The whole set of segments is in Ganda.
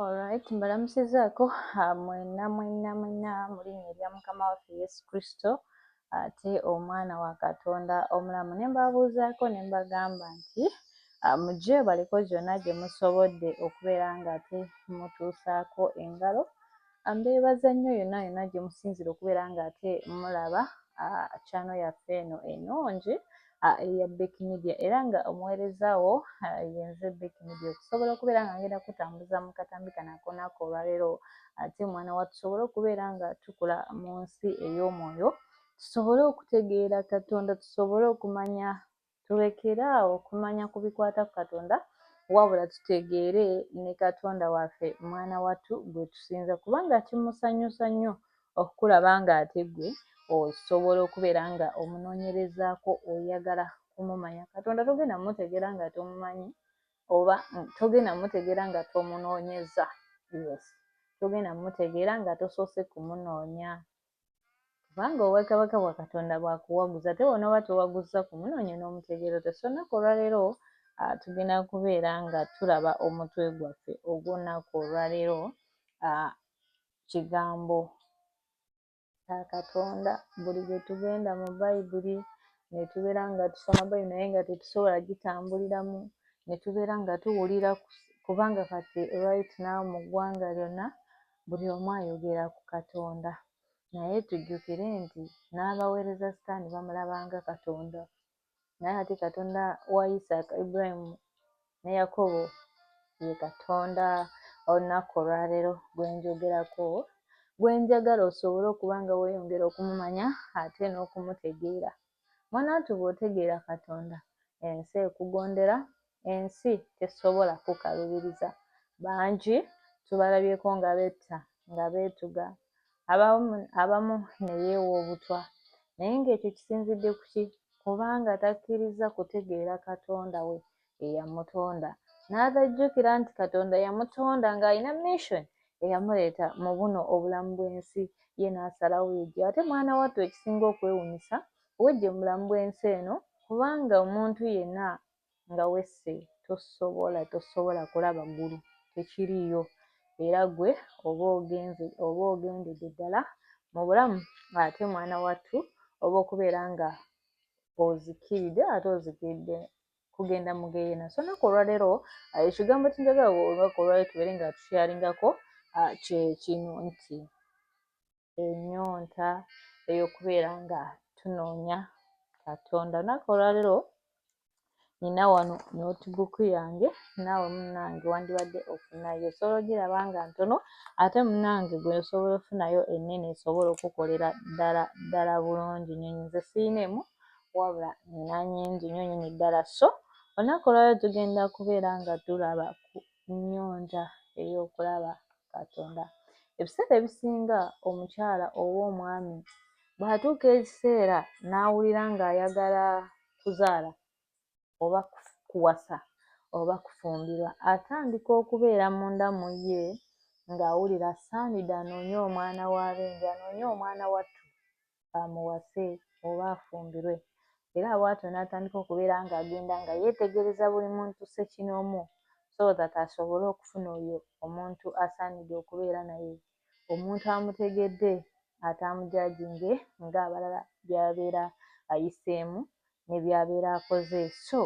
Alright, mbalamusizaako ah, mwena mwena mwena mu linnya erya Mukama waffe Yesu Kristo ate omwana wa Katonda omulamu ne mbabuuzaako ne mbagamba nti ah, mujje baliko gyonna gye musobodde okubeera ng'ate mutuusaako engalo Mbeebaza nnyo yonna yonna gye musinzira okubeera ng'ate mulaba kyano yaffe eno enungi eya Bek Media era nga omuweereza wo yenze Bek Media okusobola okubeera nga ngenda kutambuza mu katambi kano akonaako olwaleero ate mwana wa tusobole okubeera nga tukula mu nsi ey'omwoyo tusobole okutegeera Katonda tusobole okumanya Tulekere awo okumanya ku bikwata ku Katonda wabula tutegeere ne Katonda waffe mwana wattu gwe tusinza kubanga kimusanyusa nnyo okukulaba ng'ate gwe osobola okubeera nga omunoonyerezaako oyagala kumumanya. Katonda togenda mutegeera nga tomumanyi oba togenda mutegeera nga tomunoonyeza. Yes. Togenda mutegeera nga tosoose kumunoonya. Kubanga obwakabaka bwa Katonda bwa kuwaguza ate bw'onooba towaguzza ku munoonyo n'omutegeera otya. So olunaku olwaleero ah, tugenda kubeera nga tulaba omutwe gwaffe ogw'olunaku olwaleero ah, kigambo kya Katonda. Buli lwe tugenda mu Bayibuli ne tubeera nga tusoma Bayibuli naye nga tetusobola gitambuliramu, ne tubeera nga tuwulira kubanga kati right now mu ggwanga lyonna Buli omu ayogera ku Katonda, naye tujjukire nti n'abaweereza Sitaani bamulaba nga Katonda. Naye ate Katonda wa Isaaka, Ibulayimu ne Yakobo ye Katonda olunaku olwaleero gwe njogerako, gwe njagala osobole okuba nga weeyongera okumumanya ate n'okumutegeera. Mwanatu bwotegeera katonda ensi ekugondera ensi tesobola kukalubiriza bangi tubalabyeko nga betta nga betuga abamu neyeewa obutwa naye nga ekyo kisinzidde kuki kubanga takkirizza kutegeera katonda we eyamutonda n'atajjukira nti Katonda yamutonda ng'alina mission eyamuleeta mu buno obulamu bw'ensi ye n'asalawo yeggye ate mwana wattu ekisinga okwewunyisa weggye mu bulamu bw'ensi eno kubanga omuntu yenna nga wesse tosobola tosobola kulaba ggulu tekiriiyo era gwe oba ogenze oba ogendedde ddala mu bulamu ate mwana wattu oba okubeera nga ozikiridde ate ozikiridde kugenda mu geyena so naku olwalero uh, ekigambo kyenjagala olunaku olwalero tubeere nga tukyalingako uh, kyekino nti enyonta eyokubeera nga tunoonya katonda olunaku olwalero nina wano notebook yange naawe munange wandibadde ofunayo osobola ogiraba nga ntono ate munange gwe osobola ofunayo enene esobola okukolera ddala ddala bulungi nyonyi nze siina emu wabula nina nyingi nyo nyini ddala so olunaku olwaleero tugenda kubeera nga tulaba ku nyonja eyokulaba katonda ebiseera ebisinga omukyala oba omwami bwatuuka ekiseera n'awulira nga ayagala kuzaala oba kuwasa oba kufumbirwa atandika okubeera munda mu ye ng'awulira asaanidde anoonye omwana wa benja anoonye omwana wattu amuwase oba afumbirwe era bwatyo n'atandika okubeera ng'agenda nga yeetegereza buli muntu ssekinoomu so that asobole okufuna oyo omuntu asaanidde okubeera naye omuntu amutegedde ataamujajinge ng'abalala byabeera ayiseemu ne byabeera akoze so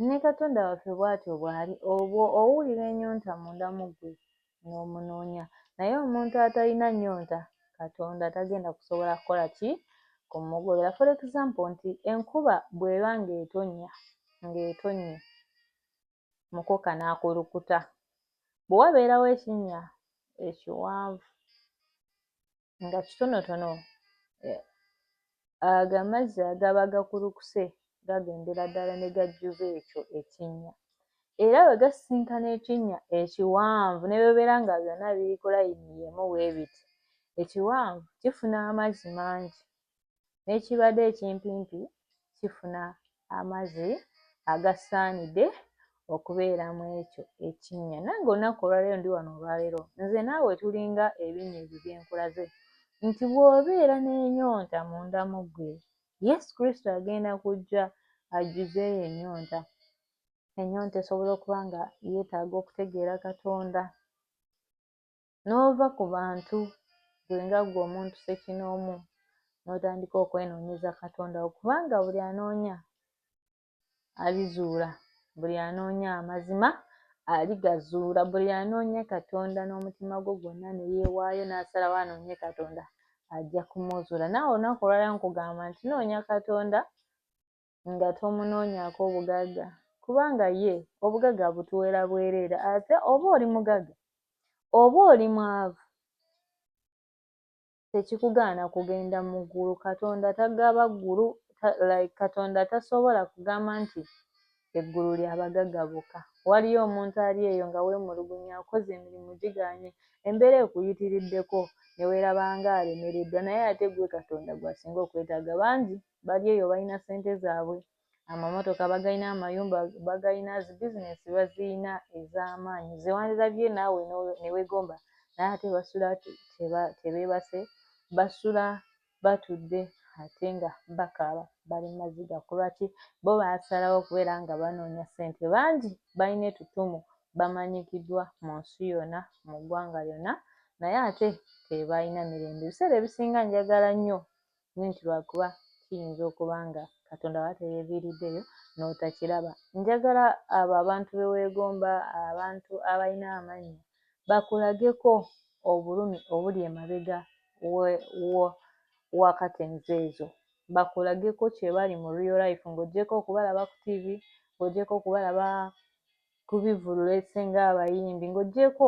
ne katonda waffe bwatyo bw'ali obwo owulira enyonta munda mu ggwe n'omunoonya naye omuntu atalina nnyonta katonda tagenda kusobola kukola ki kumugobera for example nti enkuba bw'eba ng'etonnya ng'etonnye mukoka n'akulukuta bwe wabeerawo ekinnya ekiwanvu nga kitonotono eh, ago amazzi agaba gakulukuse gagendera ddala ne gajjuza ekyo ekinnya era bwe gasisinkana ekinnya ekiwanvu ne bebeera nga byonna biri ku layini yemu wee biti ekiwanvu kifuna amazzi mangi n'ekibade ekimpimpi kifuna amazi agasaanide okubeera mu ekyo ekinnya nange olunaku olwaleero ndi wano olwaleero nze naawe tulinga ebinnya ebyo byenkulaze nti bw'obeera n'enyonta munda mu ggwe yesu kristo agenda kujja ajjuzeeyo enyonta enyonta esobola okuba nga yeetaaga okutegeera katonda n'ova ku bantu ggwe nga ggwe omuntu ssekinoomu n'otandika okwenoonyeza Katonda wo kubanga buli anoonya alizuula, buli anoonya amazima aligazuula, buli anoonya Katonda n'omutima gwe gwonna ne yeewaayo n'asalawo anoonye Katonda ajja kumuzuula. Naawe olunaku olwala nkugamba nti noonya Katonda nga tomunoonyaako bugagga kubanga ye obugagga abutuweera bwereere ate oba oli mugagga oba oli mwavu tekikugaana kugenda mu ggulu katonda tagaba ggulu like katonda tasobola kugamba nti eggulu lya bagagga bokka waliyo omuntu ali eyo nga weemulugunya akoze emirimu gigaanye embeera ekuyitiriddeko ne weeraba nga alemereddwa naye ate ggwe katonda gw'asinga okwetaaga bangi bali eyo balina sente zaabwe amamotoka bagalina amayumba bagalina zi bizinesi baziyina ez'amaanyi zewandilabye naawe newegomba naye ate basula tebeebase basula batudde ate nga bakaaba bali maziga kulwaki bo baasalawo okubeera nga banoonya sente bangi balina etutumu bamanyikiddwa mu nsi yonna mu ggwanga lyonna naye ate tebalina mirembe ebiseera ebisinga njagala nnyo Naye nti lwakuba kiyinza okuba nga Katonda wa teyeviiriddeyo n'otakiraba. Njagala abo abantu be weegomba, abantu abalina amannya, bakulageko obulumi obuli emabega wa katenzi ezo. Bakulageko kye bali mu real life ng'ogyeko okubalaba ku ttivi, ng'ogyeko okubalaba kubivulula esinga abayimbi ng'ogyeko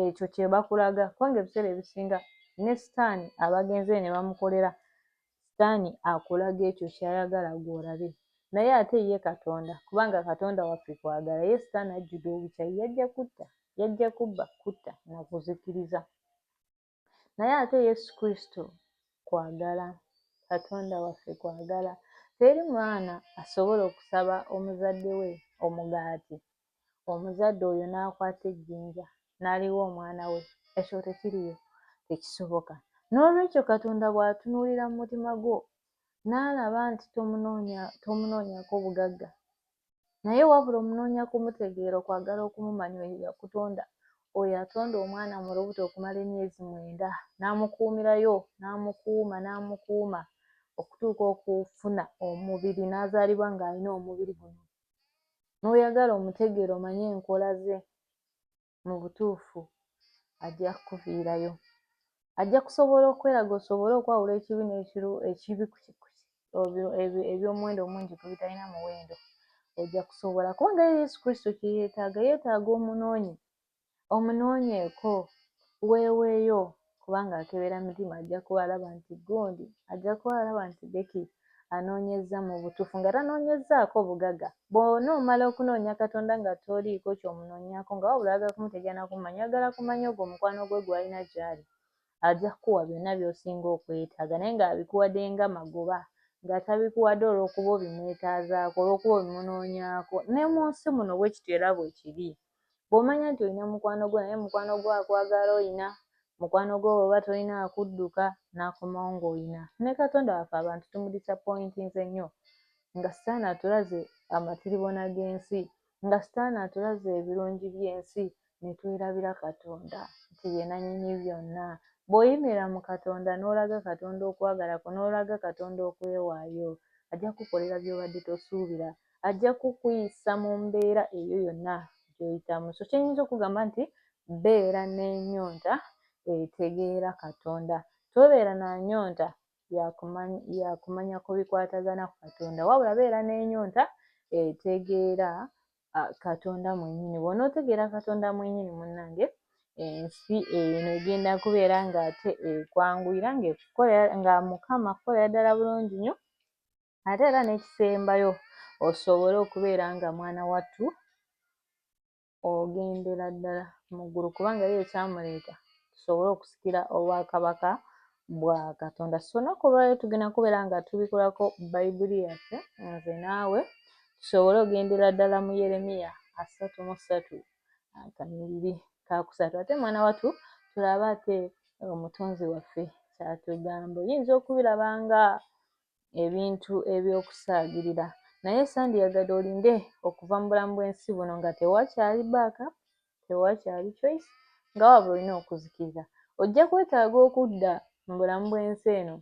ekyo kyebakulaga kubanga ebiseera ebisinga ne sitaani abagenze ne bamukolera sitaani akulaga ekyo kyayagala gw'olabe naye ate ye katonda kubanga katonda waffe kwagala ye sitaani ajjude obukyayi yajja kutta yajja kubba kutta nakuzikiriza naye ate yesu kristo kwagala katonda waffe kwagala teri mwana asobola okusaba omuzadde we omugaati omuzadde oyo n'akwata ejjinja n'aliwa omwana we ekyo tekiriyo tekisoboka n'olwekyo katonda bw'atunuulira mu mutima gwo n'alaba nti tomunoonyako bugagga Naye wabula omunoonya kumutegeera okwagala okumumanya oyo eyakutonda, oyo atonda omwana mu lubuto okumala emyezi mwenda n'amukuumirayo n'amukuuma n'amukuuma okutuuka okufuna omubiri n'azaalibwa ng'alina omubiri guno n'oyagala omutegeere omanye enkola ze. mu butuufu ajja kukuviirayo. Ajja kusobola okweraga osobole okwawula ekibi n'ekiru ekibi eby'omuwendo omungi ku bitalina muwendo. Ojja kusobola kubanga ye Yesu Kristo kye yeetaaga, yeetaaga omunoonyi omunonyeeko weeweeyo kubanga akebera mitima ajja kuba alaba nti gundi ajja kuba alaba nti beki anoonyezza mu butuufu nga tanoonyezzaako bugaga bwona omala okunoonya katonda nga toliiko kyomunoonyako nga wabula ayagala kumutegeera nakumanya ayagala kumanya ogwo omukwano gwe gwalina gyali ajja kukuwa byonna byosinga okwetaaga naye nga abikuwadde nga magoba nga tabikuwadde olwokuba obimwetaazaako olwokuba obimunoonyaako ne mu nsi muno bwekityo era bwekiri bw'omanya nti olina mukwano gwo naye mukwano gwo akwagala olina, mukwano gwo bw'oba tolina akudduka n'akomawo ng'olina. Ne Katonda waffe abantu tumudisappointinze nnyo nga Sitaani atulaze amatiribona g'ensi, nga Sitaani atulaze ebirungi by'ensi ne twerabira Katonda nti ye nannyini byonna. Bw'oyimirira mu Katonda n'olaga Katonda okwagala kwo n'olaga Katonda okwewaayo, ajja kukukolera by'obadde tosuubira. ajja kukuyisa mu mbeera eyo yonna gyoyitamu so kyenyinza okugamba nti beera n'enyonta etegeera katonda tobeera na nyonta yakumanya ku bikwatagana ku katonda wabula beera n'enyonta etegeera katonda mwenyini bwona otegeera katonda mwenyini munange ensi eno egenda kubeera ngaate ekwanguyira nga mukama kukolera ddala bulungi nyo ate era n'ekisembayo osobole okubeera nga mwana wattu ogendera ddala mu ggulu kubanga ye ekyamuleeta tusobole okusikira obwakabaka bwa katonda so olunaku olwaliro tugenda kubeera nga tubikulako bayibuli yaffe nze naawe tusobole ogendera ddala mu yeremiya asatu mu ssatu akanyiriri kakusatu ate mwana wattu tulabe ate omutonzi waffe kyatugamba oyinza okubiraba nga ebintu eby'okusaagirira naye sandiyagadde olinde okuva mu bulamu bw'ensi buno nga tewakyali baaka tewakyali choice nga waba olina okuzikirira ojja kwetaaga okudda mu bulamu bw'ensi eno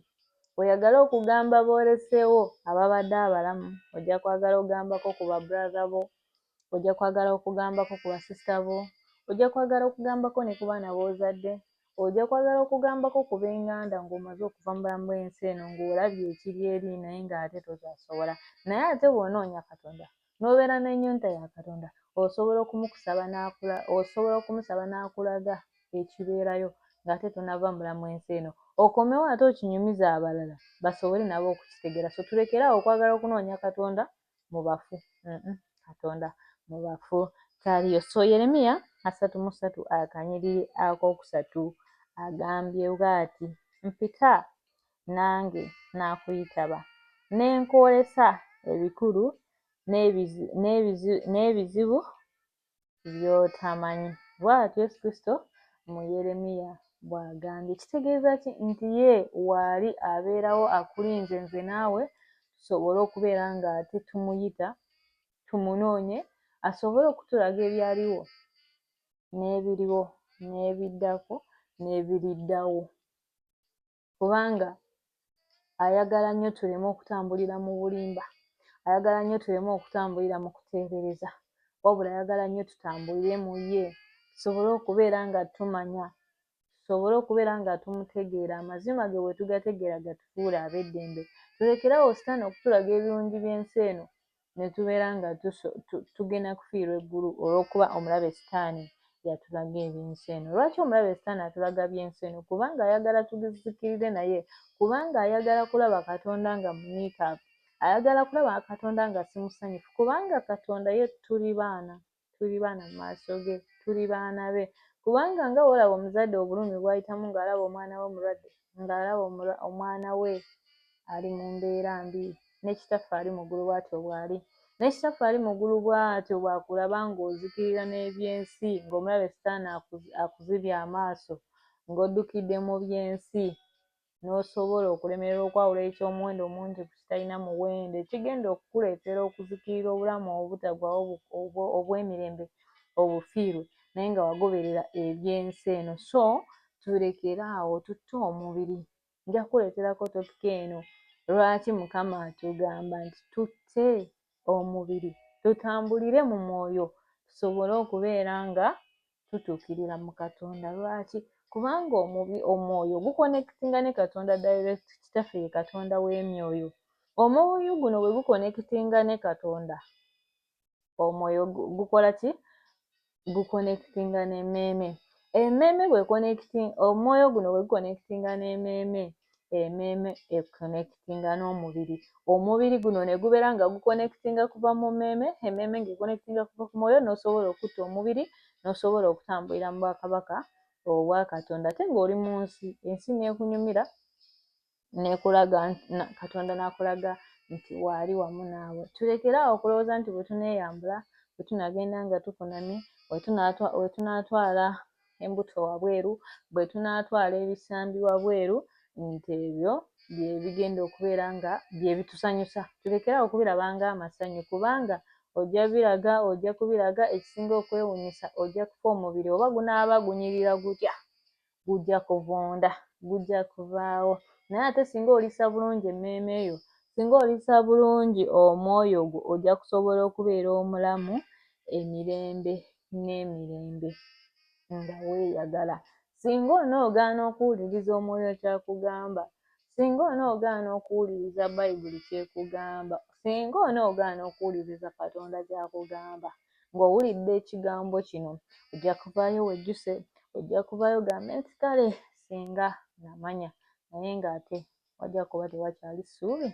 oyagala okugamba booleseewo ababadde abalamu ojja kwagala ogambako ku babratha bo ojja kwagala okugambako ku basisita bo ojja kwagala okugambako ne ku baana b'ozadde ojja kwagala okugambako ku b'enganda ng'omaze okuva mu bulamu bw'ensi eno ng'olabye ekiri eri naye ng'ate tokyasobola naye ate bw'onoonya katonda n'obeera n'ennyonta ya katonda osobola okumukusaba n'akula osobola okumusaba n'akulaga ekibeerayo ng'ate tonava mu bulamu ensi eno okomewo ate okinyumiza abalala basobole nabo okukitegeera so tulekeraawo okwagala okunoonya katonda mu bafu mm -mm. katonda mu bafu taliyo so yeremiya asatu mu satu akanyiriri akokusatu agambye bwati mpita nange nakuyitaba nenkwolesa ebikulu n'ebizibu by'otamanyi. Bw'atyo Yesu Kristo mu Yeremiya bw'agambye. Kitegeeza ki? Nti ye waali abeerawo akulinze nze naawe tusobole okubeera nga ate tumuyita, tumunoonye asobole okutulaga ebyaliwo n'ebiriwo n'ebiddako n'ebiriddawo. kubanga ayagala nnyo tuleme okutambulira mu bulimba ayagala nnyo tuleme okutambulira mu kuteebereza wabula ayagala nnyo tutambulire mu ye tusobole okubeera nga tumanya tusobole okubeera nga tumutegeera amazima ge bwe tugategeera gatufuula ab'eddembe tulekeraawo sitaani okutulaga ebirungi by'ensi eno ne tubeera nga tugenda kufiirwa eggulu olw'okuba omulabe sitaani yatulaga eby'ensi eno. Lwaki omulabe sitaani atulaga by'ensi eno? Kubanga ayagala tugizikirire naye, kubanga ayagala kulaba Katonda nga muniikaavu, ayagala kulaba Katonda nga si musanyufu, kubanga Katonda ye tuli baana. tuli baana mu maaso ge tuli baana be kubanga nga wolaba omuzadde obulumi bwayitamu ng'alaba omwana we omulwadde ng'alaba omwana we ali mu mbeera mbi ne kitaffe ali mu ggulu bwatyo bw'ali ne kitaffe ali mu ggulu bwatyo bwakulaba ng'ozikirira n'ebyensi ng'omulabe sitaani akuzibye amaaso ng'oddukidde mu byensi n'osobola okulemererwa okwawula eky'omuwendo omungi ku kitalina muwendo, ekigenda okukuleetera okuzikirira obulamu obutaggwaawo obw'emirembe obufiirwe naye nga wagoberera eby'ensi eno. So tulekere awo tutte omubiri. Nja kukuleeterako topika eno, lwaki Mukama atugamba nti tutte omubiri, tutambulire mu mwoyo tusobole okubeera nga tutuukirira mu katonda lwaki kubanga omubi omwoyo gukonekitinga ne katonda direct kitaffe ye katonda w'emyoyo omwoyo guno bwe gukonekitinga ne katonda omwoyo gukola ki gukonekitinga n'emmeeme emmeeme bwekonekitinga omwoyo guno bwe gukonekitinga n'emmeeme emeeme ekonectinga n'omubiri omubiri guno ne gubeera nga gukonectinga kuva mu mmeeme emmeeme ng'ekonectinga kuva ku mwoyo n'osobola okutta omubiri n'osobola okutambulira mu bwakabaka obwa katonda ate ng'oli mu nsi ensi n'ekunyumira n'ekulaga katonda n'akulaga nti waali wamu naawe tulekere awo okulowooza nti bwe tuneeyambula bwe tunagenda nga tukunamye we tunaatwala embuto wabweru bwe tunaatwala ebisambi wabweru nti ebyo bye bigenda okubeera nga bye bitusanyusa tulekerawo okubiraba ng'amasanyu kubanga ojja biraga ojja kubiraga ekisinga okwewunyisa ojja kufa omubiri oba gunaaba gunyirira gutya gujja kuvunda gujja kuvaawo naye ate singa olisa bulungi emmeeme yo singa olisa bulungi omwoyo gwo ojja kusobola okubeera omulamu emirembe n'emirembe nga weeyagala. Singa onoogaana okuwuliriza Omwoyo ky'akugamba, singa onoogaana okuwuliriza Bayibuli ky'ekugamba, singa onoogaana okuwuliriza Katonda ky'akugamba, ng'owulidde ekigambo kino, ojja kuvaayo wejjuse, ojja kuvaayo gambe nti, Kale, singa namanya, naye ng'ate wajja kuba tewakyali ssuubi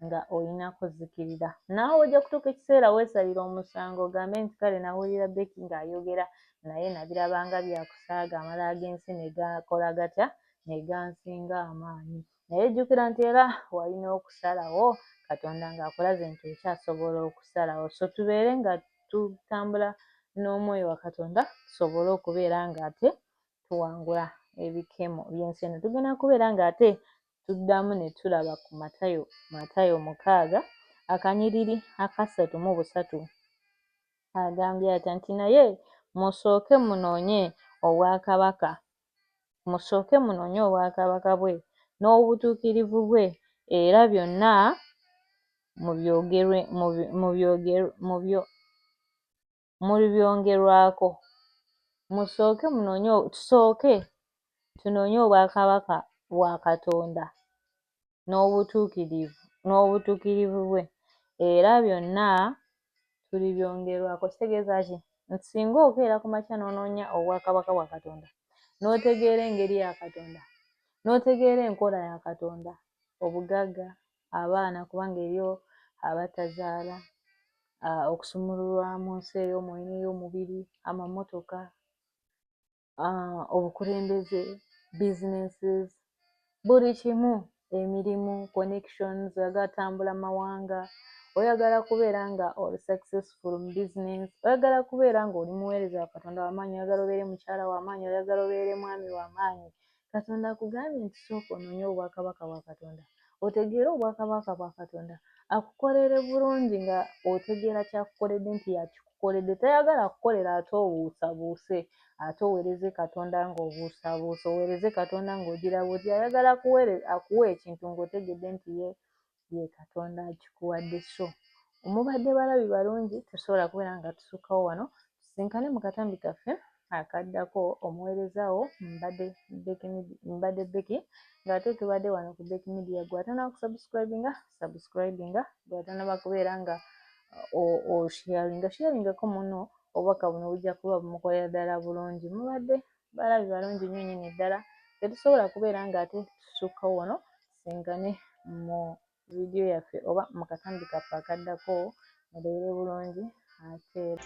nga olina kuzikirira naawe ojja kutuuka ekiseera weesalira omusango ogambe nti kale nawulira beki ng'ayogera naye nabirabanga byakusaaga amala ag'ensi ne gakola gatya ne gansinga amaanyi naye jjukira nti era walina okusalawo katonda ng'akulaze nti okyasobola okusalawo so tubeere nga tutambula n'omwoyo wa katonda tusobole okubeera ng'ate tuwangula ebikemo by'ensi eno tugenda kubeera ng'ate tuddamu ne tulaba ku matayo matayo mukaaga akanyiriri akasatu mu busatu agambye atya nti naye musooke munoonye obwakabaka musooke munoonye obwakabaka bwe n'obutuukirivu bwe era byonna mubyogerwe mubyogerwe mubyo mulibyongerwako. Musooke munoonye, tusooke tunoonye obwakabaka bwa Katonda n'obutuukirivu n'obutuukirivu bwe, era byonna tulibyongerwako. Kitegeeza ki? Nti singa okeera ku makya n'onoonya obwakabaka bwa Katonda, n'otegeera engeri ya Katonda, n'otegeera enkola ya Katonda, obugagga abaana kubanga eriyo abatazaala ah, okusumululwa mu nsi ey'omwoyo n'ey'omubiri amamotoka ah, obukulembeze businesses buli kimu emirimu connections agatambula mawanga oyagala kubeera nga oli successful mu business oyagala kubeera nga oli muweereza wa katonda wamaanyi oyagala obeere mukyala wamaanyi oyagala obeere mwami wamaanyi Katonda akugambye nti sooka onoonye obwakabaka bwa Katonda otegeere obwakabaka bwa Katonda akukolere bulungi nga otegeera kyakukoledde nti yakikukoledde tayagala akukolera ate obuusabuuse ate owereze Katonda ng'obuusabuusa owereze Katonda ng'ogira buti ayagala akuwe ekintu ng'otegedde nti ye ye katonda akikuwadde so omubadde balabi balungi tosobola kubeera nga tusukkawo wano tusinkane mu katambi kaffe akaddako omuweerezawo mbadde mbadde beki ng'ate tubadde wano ku beki midiya gwatana kusubscribinga subscribinga gwatanaba kubeera nga osharinga sharingako muno obubaka buno bujja kuba bumukolera ddala bulungi mubadde balabi balungi nnyo nyini ddala tetusobola kubeera ng'ate tusukkawo wano tusisinkane mu vidiyo yaffe oba mu katambi kaffe akaddako mubeere bulungi ateera